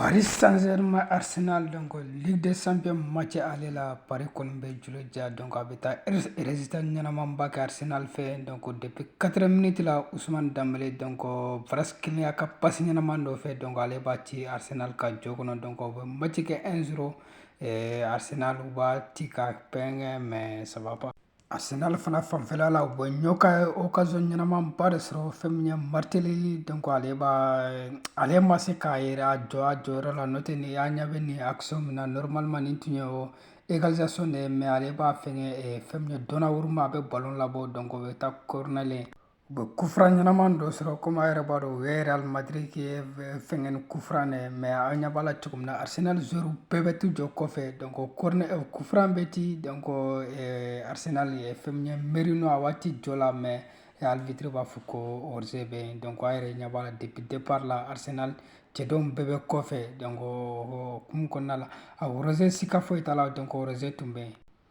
Paris Saint-Germain Arsenal donc Ligue des Champions match aller la Paris kɔni bɛ jolo ja donc a bɛ taa résultat ɲɛnamanba kɛ Arsenal fɛ donc depuis 4 minutes la Ousmane Dembélé donc Kvaratskhelia ka passe ɲɛnaman dɔ fɛ donc ale b'a ci Arsenal ka jɔ kɔnɔ donc u bɛ match kɛ 1-0 Arsenal u b'a ci ka fɛngɛ mais ça va pas Arsenal fana fanfɛla la u bɛ ɲɔ ka occasion ɲɛnamanba de sɔrɔ fɛn min ye Martinelli donc ale b'a ale ma se k'a yɛrɛ a jɔ a jɔyɔrɔ la n'o tɛ ni an ɲɛ bɛ nin action min na normalement nin tun ye o égalisation de ye mais ale b'a fɛngɛ fɛn min ye Donnarumma a bɛ ballon labɔ donc o bɛ taa corner la u bɛ coup franc ɲɛnaman dɔ sɔrɔ comme a yɛrɛ b'a dɔn u ye Real Madrid fɛngɛ ni coup franc de ye mais a ɲɛ b'a la cogo min na Arsenal joueurw bɛɛ bɛ t'u jɔ kɔfɛ donc coup franc bɛ ci donc Arsenal ye fɛn min ye Merino a b'a ci jɔ la mais arbitre b'a fɔ ko hors-jeu bɛ yen donc a yɛrɛ ɲɛ b'a la depuis départ la Arsenal cɛdenw bɛɛ bɛ kɔfɛ donc o hukumu kɔnɔna la a hors-jeu sika foyi t'a la donc hors-jeu tun bɛ yen